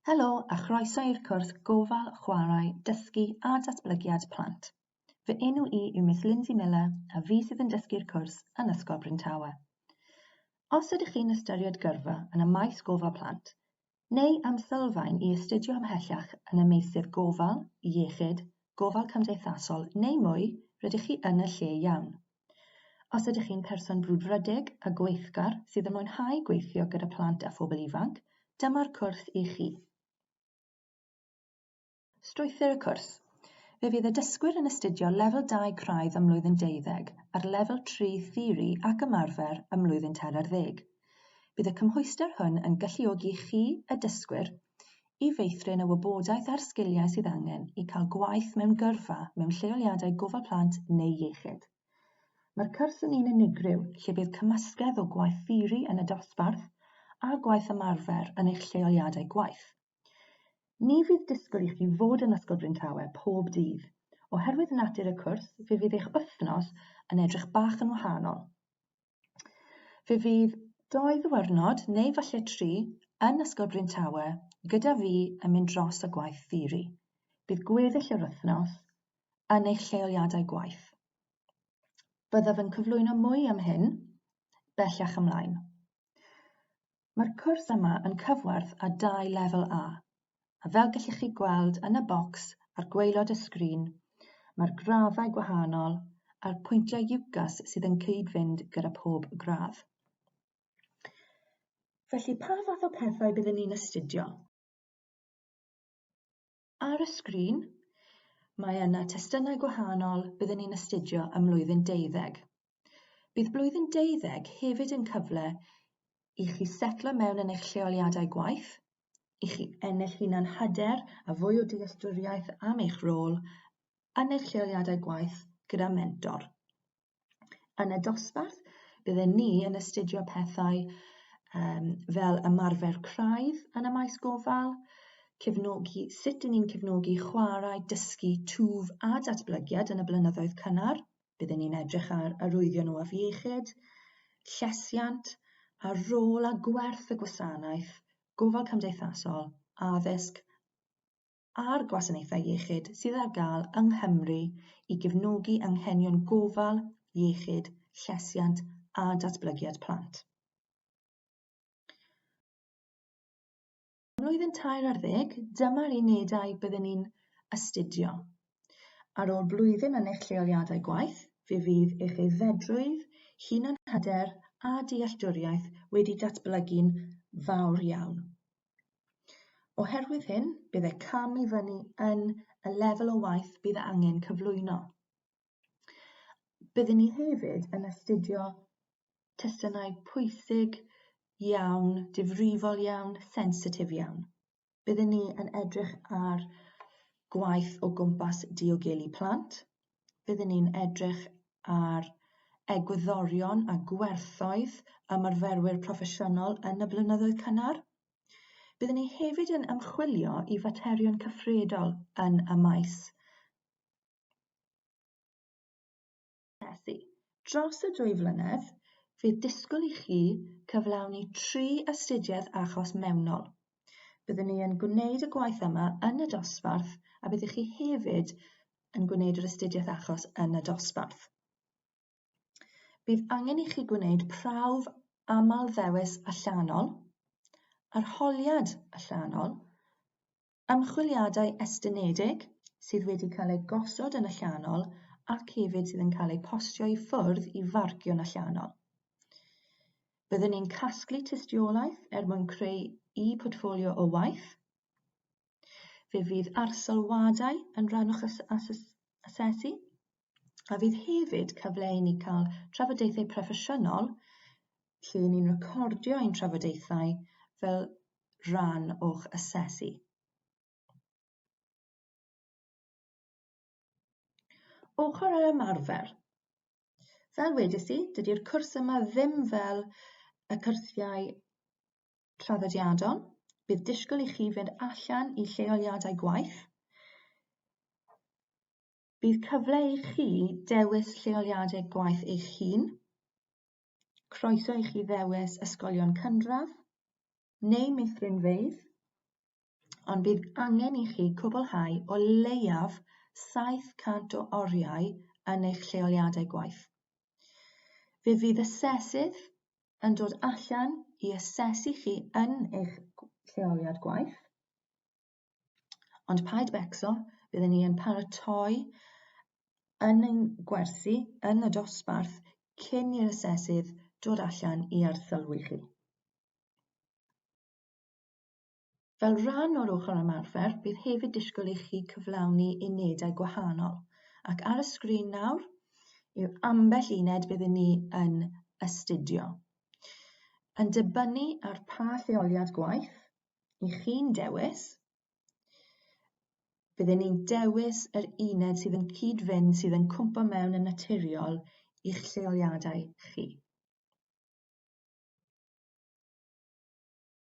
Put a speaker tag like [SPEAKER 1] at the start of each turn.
[SPEAKER 1] Helo a chroeso i'r cwrs Gofal, Chwarae, Dysgu a Datblygiad Plant. Fy enw i yw Miss Lindsay Miller a fi sydd yn dysgu'r cwrs yn Ysgol Bryntawe. Os ydych chi'n ystyried gyrfa yn y maes gofal plant, neu am sylfaen i astudio ymhellach yn y meysydd gofal, iechyd, gofal cymdeithasol neu mwy, rydych chi yn y lle iawn. Os ydych chi'n person brwdfrydig a gweithgar sydd yn mwynhau gweithio gyda plant a phobl ifanc, dyma'r cwrs i chi. Strwythur y cwrs. Fe fydd y dysgwyr yn astudio lefel 2 craidd ym mlwyddyn deuddeg a'r lefel 3 theori ac ymarfer ym mlwyddyn tair ar ddeg. Bydd y cymhwyster hwn yn galluogi chi, y dysgwyr, i feithrin y wybodaeth a'r sgiliau sydd angen i cael gwaith mewn gyrfa mewn lleoliadau gofal plant neu iechyd. Mae'r cwrs yn un unigryw lle bydd cymysgedd o gwaith theori yn y dosbarth a gwaith ymarfer yn eich lleoliadau gwaith. Ni fydd disgwyl i chi fod yn Ysgol Bryntawe pob dydd. Oherwydd natur y cwrs, fe fydd eich wythnos yn edrych bach yn wahanol. Fe fydd dou ddiwrnod, neu falle tri, yn Ysgol Bryn Tawe, gyda fi yn mynd dros y gwaith theori. Bydd gweddill yr wythnos yn eich lleoliadau gwaith. Byddaf yn cyflwyno mwy am hyn bellach ymlaen. Mae'r cwrs yma yn cyfwerth a dau lefel A, a fel gellwch chi gweld yn y bocs ar gwaelod y sgrin, mae'r graddau gwahanol a'r pwyntiau UCAS sydd yn cyd-fynd gyda pob gradd. Felly, pa fath o pethau byddwn ni'n astudio? Ar y sgrin, mae yna testunau gwahanol byddwn ni'n astudio ym mlwyddyn deuddeg. Bydd blwyddyn deuddeg hefyd yn cyfle i chi setlo mewn yn eich lleoliadau gwaith, i chi ennill hunan hyder a fwy o dealltwriaeth am eich rôl yn eich lleoliadau gwaith gyda mentor. Yn y dosbarth, bydden ni yn astudio pethau um, fel ymarfer craidd yn y maes gofal, cefnogi, sut ni'n cefnogi chwarae, dysgu, twf a datblygiad yn y blynyddoedd cynnar. Byddwn ni'n edrych ar arwyddion o afiechyd, llesiant, a rôl a gwerth y gwasanaeth, gofal cymdeithasol, addysg a'r gwasanaethau iechyd sydd ar gael yng Nghymru i gefnogi anghenion gofal, iechyd, llesiant a datblygiad plant. Mlwyddyn tair ar ddeg, dyma'r unedau byddwn ni'n astudio. Ar ôl blwyddyn yn eich lleoliadau gwaith, fe fydd eich aeddfedrwydd, hunanhyder a dealltwriaeth wedi datblygu'n fawr iawn. Oherwydd hyn, bydd y cam i fyny yn y lefel o waith bydd angen cyflwyno. Byddwn ni hefyd yn astudio testunau pwysig iawn, difrifol iawn, sensitif iawn. Byddwn ni yn edrych ar gwaith o gwmpas diogelu plant, byddwn ni'n edrych ar egwyddorion a gwerthoedd ymarferwyr proffesiynol yn y blynyddoedd cynnar. Byddwn ni hefyd yn ymchwilio i faterion cyffredol yn y maes Dros y dwy flynedd, fe disgwyl i chi cyflawni tri astudiaeth achos mewnol. Byddwn ni yn gwneud y gwaith yma yn y dosbarth a byddwch chi hefyd yn gwneud yr astudiaeth achos yn y dosbarth. Bydd angen i chi gwneud prawf aml ddewis allanol, arholiad allanol, ymchwiliadau estynedig sydd wedi cael eu gosod yn allanol ac hefyd sydd yn cael eu postio i ffwrdd i farcio'n allanol. Byddwn ni'n casglu tystiolaeth er mwyn creu y portffolio o waith. Fe fydd arsyllwadau yn rhan o'ch asesu, a fydd hefyd cyfle i ni cael trafodaethau proffesiynol lle ni'n recordio ein trafodaethau fel rhan o'ch asesu. Ochr yr ymarfer. Fel wedys i, dydy'r cwrs yma ddim fel y cyrsiau traddodiadol. Bydd disgwyl i chi fynd allan i lleoliadau gwaith. Bydd cyfle i chi dewis lleoliadau gwaith eich hun. Croeso i chi ddewis ysgolion cynradd neu meithrinfeydd ond bydd angen i chi gwblhau o leiaf 700 o oriau yn eich lleoliadau gwaith. Fe fydd asesydd yn dod allan i asesu chi yn eich lleoliad gwaith, ond paid becso, byddwn ni yn paratoi yn ein gwersi yn y dosbarth cyn i'r asesydd dod allan i arsylwi chi. Fel rhan o'r ochr ymarfer, bydd hefyd disgwyl i chi cyflawni unedau gwahanol, ac ar y sgrin nawr yw ambell uned byddwn ni yn astudio. Yn dibynnu ar pa lleoliad gwaith i chi'n dewis, byddwn ni'n dewis yr uned sydd yn cyd-fynd sydd yn cwmpo mewn yn naturiol i'ch lleoliadau chi.